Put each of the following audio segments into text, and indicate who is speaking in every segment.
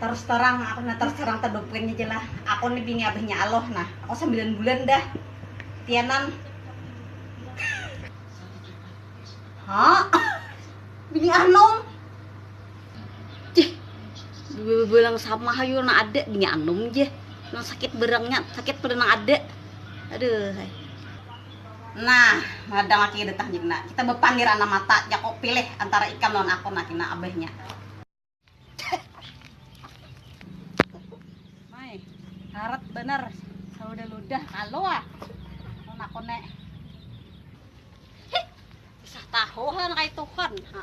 Speaker 1: Terus terang, aku na terus terang terdupin aja lah. Aku nih bini abahnya aloh nah. Aku sembilan bulan dah. Tianan. Hah? Bini anum? Jeh, bilang sama hayu na ada bini anum jeh. Nang sakit berangnya, sakit pada nang ada. Aduh. Nah, madang laki kada tahan jik nah. Kita bapandir anam mata, jako pilih antara ikam lawan aku nah kina abahnya. Mai, harat banar saudah ludah kalu ah lawan aku ne. Hih, kisah tahu ha nang kayatuhan ha.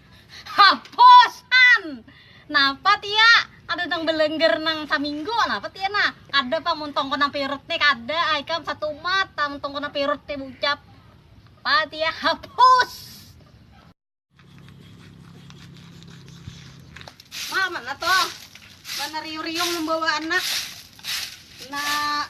Speaker 1: Hapus han. Napa tia? Kada nang belengger nang saminggu napa tia nah? Kada pang mun tongkon nang pirut nih kada ikam satumat tang tongkon nang pirut nih bucap. Pa tia hapus. Ma mana toh? Mana riu-riung membawa anak. Nah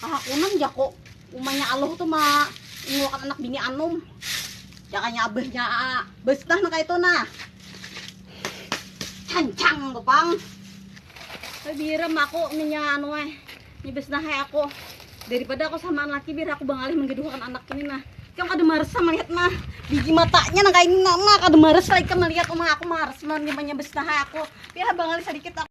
Speaker 1: Kahakunan jako umanya aluh tu ma ingulakan anak bini anum jakanya abahnya besnah nah kaitu nah cancang tu pang tapi biram aku minya anu eh nya besnah eh aku daripada aku samaan laki biar aku bangalih menggeduhakan anak ini nah ikam kada marasa melihat nah biji matanya nah kaini nah kada marasa ikam melihat uma aku marasa melihat imbahnya besnah eh aku biar bangalih sadikit aku.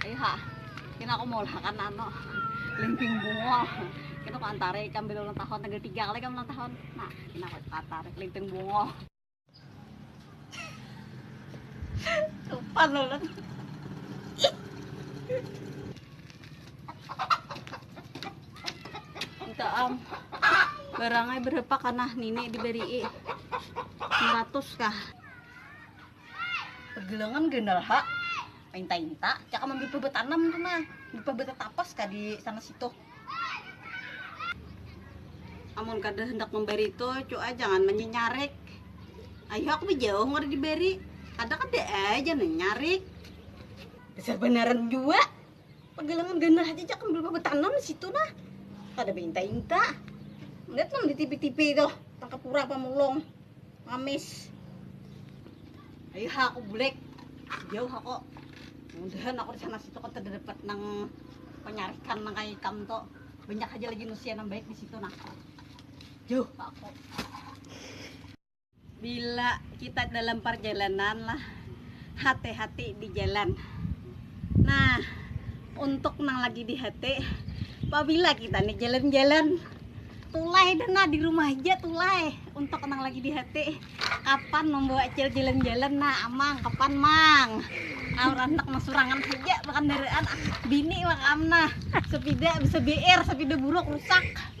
Speaker 1: Iha, kena aku maulahakan anu limping bungol. Kena aku antara ikam bila ulang tahun tanggal tiga kali ikam ulang tahun. Nah, kena aku antara limping bungol. Tupan ulun. Minta am. Barangnya berapa kana nini diberi? 100 kah? Begelengan ganal ha, inta-inta cakam ambil pebet tanam tu nah, pebet tapas ka di sana situ. Amun kada hendak memberi tu cu ai jangan menyenyarik. Ayuh aku bejauh kada diberi, ada kada ai jangan menyenyarik. Dasar banaran jua. Pagalangan ganal haja jak ambil bapa tanam di situ nah. Kada beinta-inta. Lihat nang di tipi-tipi itu, tangkap urang pamulung. Mamis. Ayo ha aku bulek. Jauh aku. Mudahan aku di sana situ kan kada dapat nang penyarikan nang kayak ikam tu. Banyak aja lagi manusia nang baik di situ nah. Jauh aku. Bila kita dalam parjalanan lah, hati-hati di jalan. Nah, untuk nang lagi di hati, pabila kita nih jalan-jalan, tulai dana di rumah aja tulai. Untuk nang lagi di hati, kapan membawa cil jalan-jalan nah amang, kapan mang? Nah, orang tak masurangan saja, bahkan daraan bini makam nah, sepida bisa BR, sepeda buruk rusak.